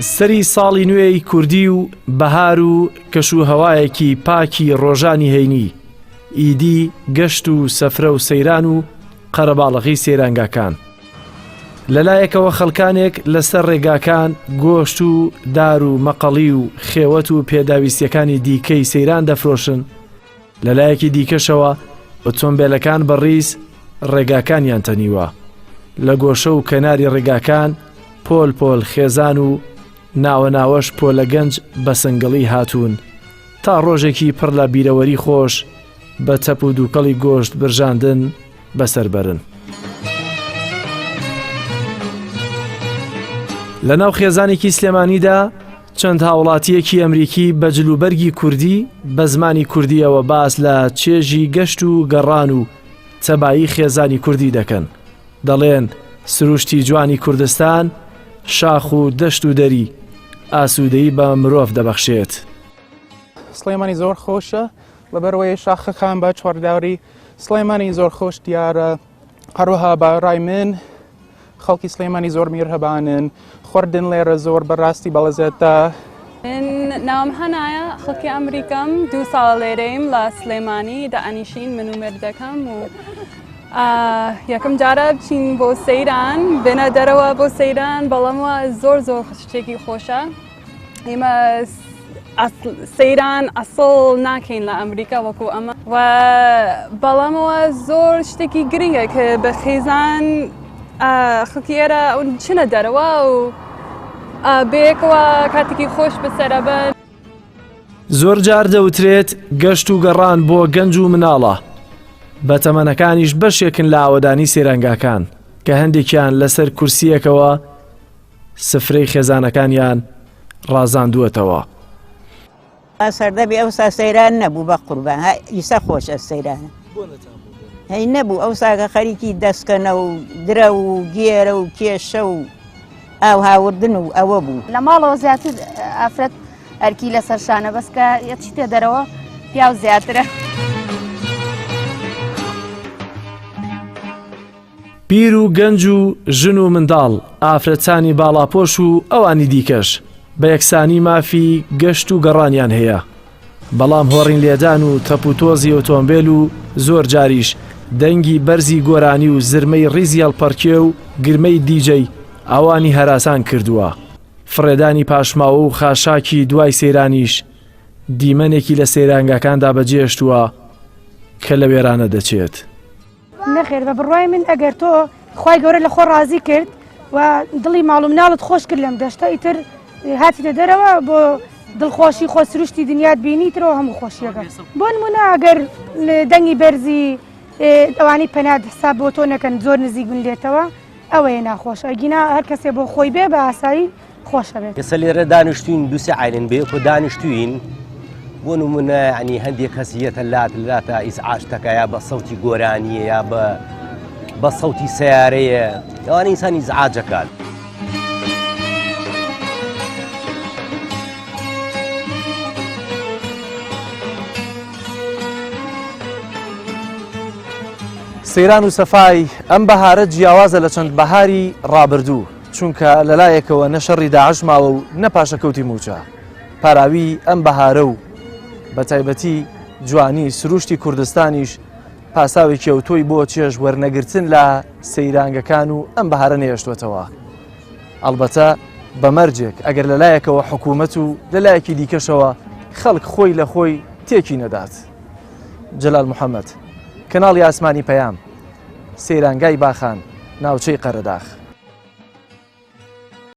سەری ساڵی نوێی کوردی و بەهار و کەش و هەوایەکی پاکی ڕۆژانی هەینی ئیدی گەشت و سەفرە و سەیران و قەرەباڵغی سەیرانگاکان لەلایەکەوە خەڵکانێک لەسەر ڕێگاکان گۆشت و دار و مەقەڵی و خێوەت و پێداویستیەکانی دیکەی سەیران دەفرۆشن لەلایەکی دیکەشەوە ئۆتۆمبێلەکان بە ڕیز ڕێگاکانیان تەنیوە لە گۆشە و کەناری ڕێگاکان پۆل پۆل خێزان و ناوە ناوەش پۆلە گەنج بە سنگڵی هاتوون تا ڕۆژێکی پڕ لە بیرەوەری خۆش بە تەپ و دووکەڵی گۆشت برژاندن بەسەر بەرن. لە ناو خێزانێکی سلێمانیدا چەند هاوڵاتییەکی ئەمریکی بە جلوبەرگی کوردی بە زمانی کوردییەوە باس لە چێژی گەشت و گەڕان و تەبایی خێزانی کوردی دەکەن. دەڵێن سروشتی جوانی کوردستان، شاخ و دەشت و دەری، ئاسوودەیی بە مرۆڤ دەبەخشێت. سڵێمانی زۆر خۆشە لەبەرەوەی شاخەکان بە چواروداوەری سڵێمانی زۆر خۆش دیارە. هەروەها بە ڕای من خەڵکی سلێمانی زۆر میرهەبانن خوردن لێرە زۆر بەڕاستی بەڵەزێتە ناوم هەنایە خەڵکی ئەمریکم دو ساڵ لێرەیم لە سلێمانی دائنیشین من و مردەکەم و یەکەم جارە بچین بۆ سەیران بێنە دەرەوە بۆ سەیران بەڵام وە زۆر زۆر شتێکی خۆشە ئێمە سەیران ئەسڵ ناکەین لە ئەمریکا وەکو ئەمە و بەڵامەوە زۆر شتێکی گرنگە کە بە خێزان خەڵکی ئێرە ئەون چنە دەرەوە و بەیەکەوە کاتێکی خۆش بەسەرەبن زۆر جار دەوترێت گەشت و گەڕان بۆ گەنج و مناڵە بە تەمەنەکانیش بەشێکن لە ئاوەدانی سێرەنگاکان کە هەندێکیان لەسەر کورسیەکەوە سفرەی خێزانەکانیان ڕازاندووەتەوە. وا سەردەمی ئەوسا سەیران نەبوو بە قوربان ها ئیسە خۆشە سەیران هەی نەبوو ئەو ساگە خەریکی دەستکەنە و درە و گێرە و کێشە و ئاو هاوردن و ئەوە بوو لە ماڵەوە زیاتر ئافرەت ئەرکی لەسەر شانە بەسکە یەچیتە دەرەوە پیاو زیاترە. پیر و گەنج و ژن و منداڵ، ئافرەتانی باڵاپۆش و ئەوانی دیکەش بە یەکسانی مافی گەشت و گەڕانیان هەیە، بەڵام هۆڕین لێدان و تەپوتۆزی ئۆتۆمبێل و زۆر جاریش دەنگی بەرزی گۆرانی و زرمەی ڕیزی هەڵپەڕکێ و گرمەی دیجەی ئەوانی هەراسان کردووە. فڕێدانی پاشماوە و خاشاکی دوای سەیرانیش دیمەنێکی لە سەیرانگاکاندا بەجێهێشتووە کە لە وێرانە دەچێت. نەخێر بە بڕوای من ئەگەر تۆ خوای گەورە لە خۆ ڕازی کرد و دڵی ماڵ و مناڵت خۆش کرد لەم دەشتە ئیتر هاتیتە دەرەوە بۆ دڵخۆشی خۆ سروشتی دنیات بینی ترەوە هەموو خۆشیەکە بۆ نمونە ئەگەر دەنگی بەرزی ئەوانی پەنات حساب بۆ تۆ نەکەن زۆر نزیک بن لێتەوە ئەوەیە ناخۆش ئەگینا هەر کەسێ بۆ خۆی بێ بە ئاسایی خۆش ئەبێت. ئێستا لێرە دانیشتووین دوو سێ عایلەن بەیەکەوە دانیشتووین بۆ نمونە یعنی هەندێک کەس یەتە لات لاتە ئیزعاج تەکە یا بە سەوتی گۆرانییە یا بە بە سەوتی سیارەیە ئەوانە ئینسان ئیزعاجەکات. سەیران و سەفای ئەم بەهارە جیاوازە لە چەند بەهاری ڕابردوو. چونکە لەلایەکەوە نە شەڕی داعش ماوە و نە پاشەکەوتی موچە پاراوی ئەم بەهارە و بە تایبەتی جوانی سروشتی کوردستانیش پاساوێکی ئەو تۆی بۆ چێژ وەرنەگرتن لە سەیرانگەکان و ئەم بەهارە نێشتوەتەوە ئەلبەتە بەمەرجێک ئەگەر لەلایەکەوە حکوومەت و لەلایەکی دیکەشەوە خەڵک خۆی لە خۆی تێکی نەدات جلال محەممەد کەناڵی ئاسمانی پەیام سەیرانگای باخان، ناوچەی قەرەداخ.